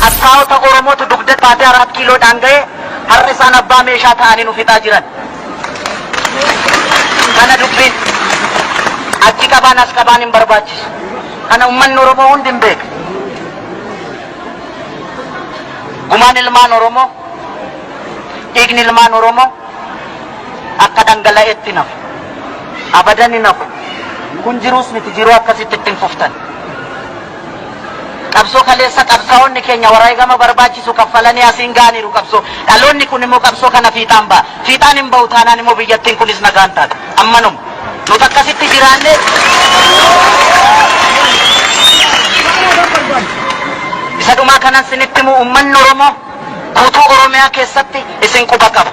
Qabsaa'ota Oromootu dugda baatee araa kiiloodhaan ga'e har'a isaan abbaa meeshaa ta'anii nu fixaa jiran. Kana dubbiin achi qabaan as qabaan hin barbaachisu. Kana uummanni Oromoo hundi hin beeku. Gumaan ilmaan Oromoo, dhiigni ilmaan Oromoo, akka dhangala'etti hin hafu. Abadan hin hafu. Kun jiruus miti jiruu akkasitti itti hin fuftan. Qabsoo kaleessa qabsaa'onni keenya waraegama barbaachisu kaffalanii asiin ga'aniiru qabsoo. Dhaloonni kun immoo qabsoo kana fiixaan ba'a. Fiixaan hin ba'u taanaan immoo biyyattiin kunis nagaa hin taatu. Ammanuma. Nuti akkasitti jiraannee isa dhumaa kanan sinitti himu uummanni Oromoo Guutuu Oromiyaa keessatti isin quba qaba.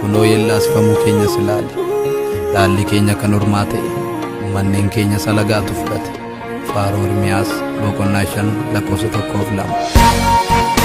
Kunoo yellaasifamuu keenyas ilaali. Dhaalli keenya kan ormaa ta'e, manneen keenya salagaatu fudhate. Faaruu Ermiyaas boqonnaa 5 lakkoofsa 1 fi 2.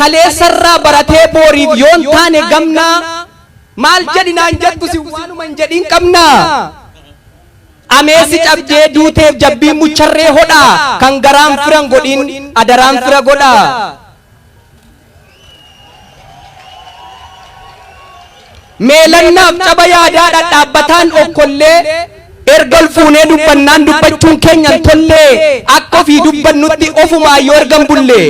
Kaleessarraa baratee booriif yoon taane gamnaa Maal jedhi naan jettu si waanuma hin jedhiin qabnaa Ameessi cabdee duuteef jabbiin mucharree hodhaa Kan garaan fira hin godhiin adaraan fira godhaa Meelannaaf caba yaadaa dhadhaabbataan okkollee Erga ol fuunee dubbannaan dubbachuun keenya hin tollee Akka ofii dubbannutti ofumaa yoo ergan bullee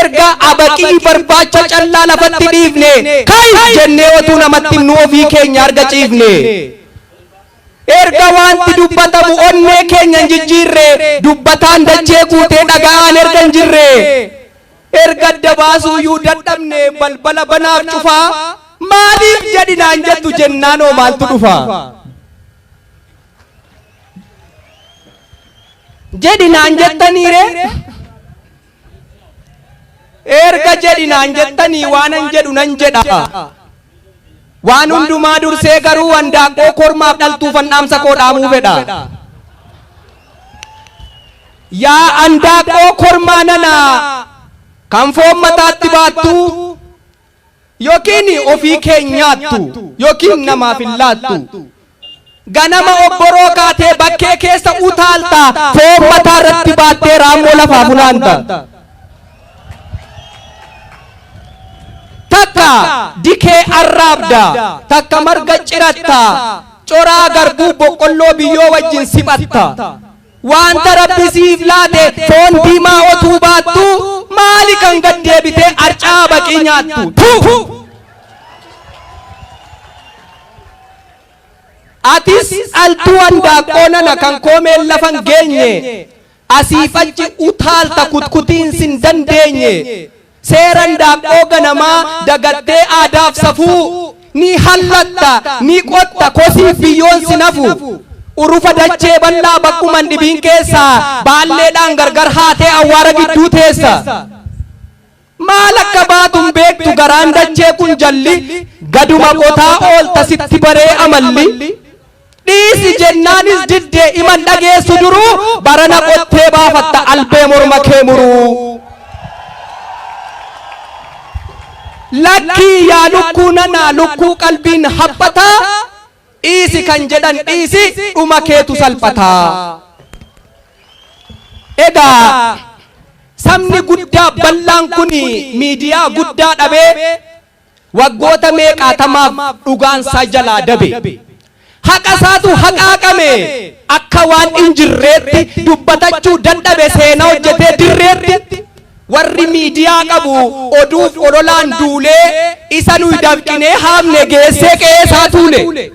Erga abaqii, barbaacha, callaa lafatti dhiifnee, ka'i! jennee otuu namatti himnuu ofii keenya arga ciifnee. Erga waanti dubbatamu onnee keenya hin jijjiirree, dubbataan dachee guutee dhaga'aan erga hin jirree. Erga adda baasuuyyuu dadhabnee balbala banaaf cufaa, maaliif jedhi naan jettu jennaanoo maaltu dhufaa? jedhi naan jettanii ree erga jedhi naan jettanii waanan jedhu nan jedha waan hundumaa dursee garuu handaaqqoo kormaaf dhaltuufan dhaamsa koo dhaamuu fedha yaa handaaqqoo kormaa nanaa kan foon mataatti baattuu Yookiin ofii kee hin nyaattu, yookiin namaaf hin laattu. Ganama obboroo kaatee bakkee keessa utaalta, foon mataa irratti baattee raammoo lafaa funaanta. Takka dikee arraabda, takka marga ciratta, coraa garbuu boqqolloo biyyoo wajjin siphatta. Wanta Rabbi siif laate foon diimaa otuu baattuu maali kan gad deebitee arcaa baqii nyaattu? Tuu! Atis dhaltuu handaaqqoo nana kan koomeen lafa hin geenye asiif achi utaalta kutkutiin sin dandeenye Seera indaaqqoo ganamaa dagattee aadaaf safuu Ni hallatta, ni qotta, kosiif biyyoon sin hafu Urufa dachee bal'aa bakkuma hin dhibiin keessa Baalleedhaan gargar haatee awwaara gidduu teessa Maal akka baatu hin beektu garaan dachee kun jalli Gaduma qotaa oolta sitti baree amalli Dhiisi jennaanis didde iman dhageessu duruu barana qottee baafatta albee morma kee muruu. Lakkii yaa lukkuu nanaa lukkuu qalbiin haphataa dhiisi kan jedhan dhiisi dhuma keetu salphataa. Egaa sabni guddaa bal'aan kun miidiyaa guddaa dhabee Waggoota meeqaatamaaf dhugaan isaa jalaa dabe. Haqa isaatu haqaaqame. Akka waan hin jirreetti dubbatachuu dadhabe seenaa hojjetee dirreetti. Warri miidiyaa qabu oduuf ololaan duulee isa nuyi dafqinee haamne geessee qe'ee isaa tuule.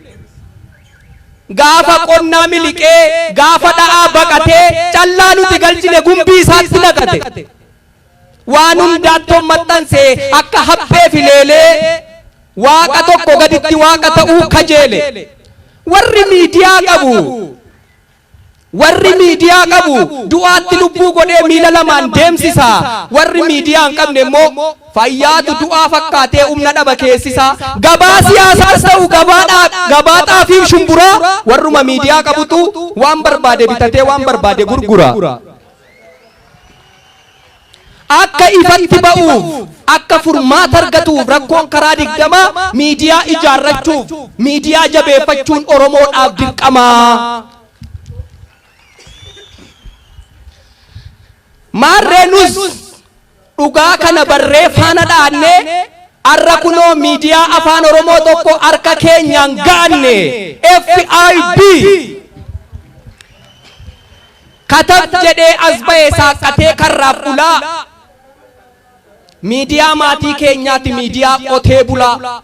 Gaafa qonnaa miliqee, gaafa dha'aa baqatee callaa nuti galchine gumbii isaatti naqate. Waan hundaattoon maxxanse akka haphee fi leelee Waaqa tokko gaditti Waaqa ta'uu kajeele. Warri miidiyaa qabu Warri miidiyaa qabu du'aatti lubbuu godhee miila lamaan deemsisa. Warri miidiyaa hin qabne immoo fayyaatu du'aa fakkaatee humna dhaba keessisa. Gabaa siyaasaas ta'u gabaa dhaa- gabaa xaafii fi shumburaa warruma miidiyaa qabutu waan barbaade bitatee waan barbaade gurgura. akka ifatti ba'uuf, akka furmaata argatuuf rakkoon karaa digdamaa miidiyaa ijaarrachuuf miidiyaa jabeeffachuun Oromoodhaaf dirqama. Maarree nus dhugaa kana barree faana dhaannee arra kunoo miidiyaa afaan Oromoo tokko harka keenyaan gaanne FIB. Kataf jedhee as bahe saaqqatee karraaf bulaa Miidiyaa maatii keenyaati miidiyaa qotee bulaa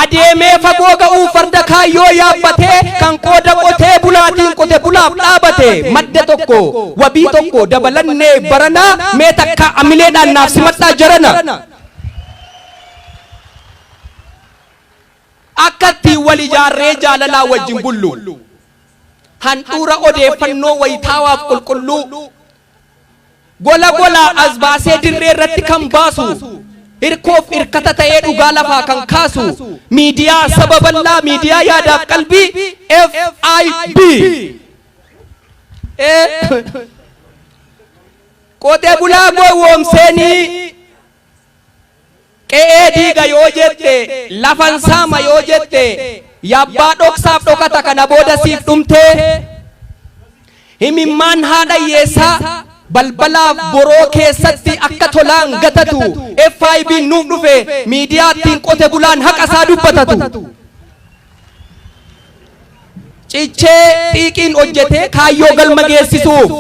Adeemee fagoo ga'uu farda kaayyoo yaabbatee Kan qooda qotee bulaatiin qote bulaaf dhaabate Madda tokko wabii tokko dabalannee barana Mee takka amileedhaan naaf simadhaa jarana Akka ittiin wal ijaarree jaalalaan wajjin bullu, handhuura odeeffannoo wayitaawaaf qulqulluu, gola golaa as baasee dirree irratti kan baasu, hirkoof irkata ta'ee dhugaa lafaa kan kaasu, miidiyaa saba bal'aa, miidiyaa yaadaaf qalbii FIB! E. Qotee bulaa gowwoomseenii. Qe'ee diiga yoo jette, lafan saama yoo jette, yabbaa dhoksaaf dhokata kana booda siif dhumtee? Himimmaan haadha hiyyeessaa balbalaaf boroo keessatti akka tolaan gatatu FIBn nuuf dhufe miidiyaa ittiin qote bulaan haqa isaa dubbatatu. cichee xiiqiin hojjetee kaayyoo galma geessisuuf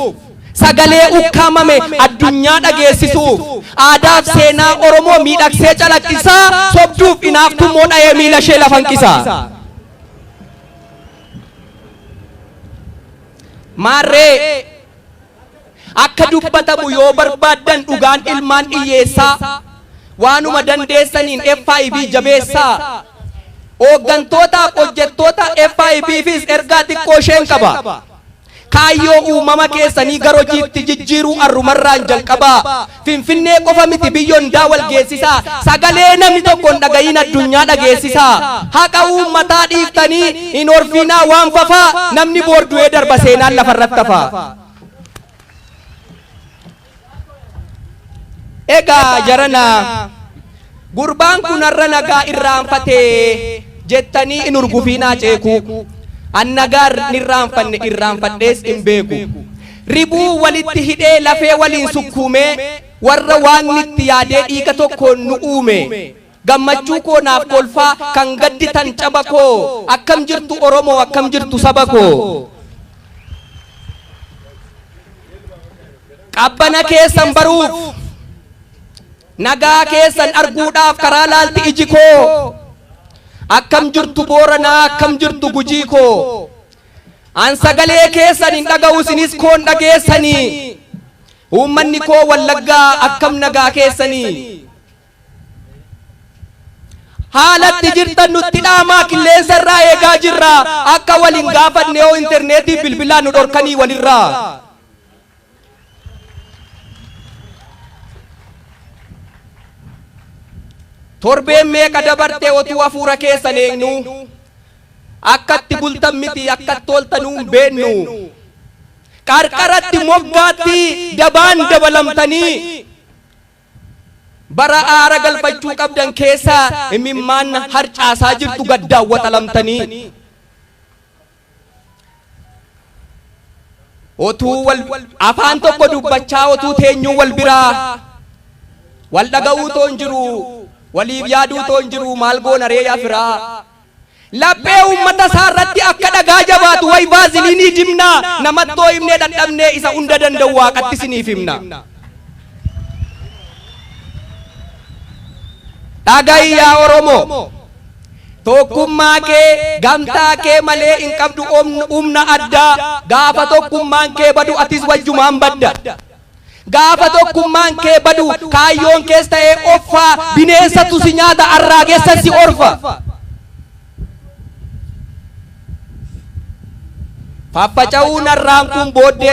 sagalee ukkaamame addunyaa dhageessisuuf aadaaf seenaa Oromoo miidhagsee calaqqisaa sobduuf inaaftuu immoo dha'ee miila ishee lafa hanqisa. Maarree Akka dubbatamu yoo barbaaddan dhugaan ilmaan dhiyyeessaa. Waanuma dandeessaniin FIB jabeessaa. Ooggantootaaf hojjettoota FIBfis ergaa xiqqoo isheen qaba. Kaayyoo uumama keessanii gar hojiitti jijjiiruu arrumarraan jalqabaa. Finfinnee qofa miti biyyo hundaa wal geessisaa. Sagalee namni tokko hin dhaga'iin addunyaa dhageessisaa. Haqa uummataa dhiiftanii hin horfiinaa waan fafaa namni boor du'ee darba seenaan lafarratti hafaa. Egaa jarana. Gurbaan kun har'a nagaa irraanfate jettanii hin hurgufiinaa ceekuu. An nagaa hin irraanfanne irraanfadhees hin beeku. Ribuu walitti hidhee lafee waliin sukkuumee warra waaqni itti yaadee dhiiga tokkoon nu uume. Gammachuu koo naaf kolfaa kan gadditan caba koo akkam jirtu Oromoo akkam jirtu saba koo. Qabbana keessan baruuf. Nagaa keessan arguudhaaf karaa laalti iji koo Akkam jirtu Booranaa akkam jirtu Gujii koo An sagalee keessan hin dhaga'u isinis koon dhageessanii Uummanni koo Wallaggaa akkam nagaa keessanii Haalatti jirtan nutti dhaamaa qilleensa irraa eegaa jirra akka wal hin gaafanne yoo interneetii bilbilaa nu dhorkanii walirraa. Torbeen meeqa dabarte otuu hafuura keessan eegnuu akkatti bultan miti akkatti ooltanuu hin beennu. Qarqaratti moggaatti dabaan dabalamtanii bara aara galfachuu qabdan keessa imimmaan harcaasaa jirtu gaddaan waxalamtanii. otuu wal afaan tokko dubbachaa otuu teenyuu wal biraa wal dhaga'uu toon jiru waliif yaaduu toon jiru maal goona ree yaa firaa laphee uummata isaa irratti akka dhagaa jabaatu way baaziliinii dimnaa namattoo himnee dadhabnee isa hunda danda'u waaqatti isiniif himna. Dhaga'i yaa Oromoo Tokkummaa kee gamtaa kee malee hin qabdu humna addaa gaafa tokkummaan kee badu atis wajjumaan badda. Gaafa tokkummaan kee badu kaayyoon kees ta'ee offaa bineensatu si nyaata arraagessa si orfa. Faffaca'uu narraan kun booddee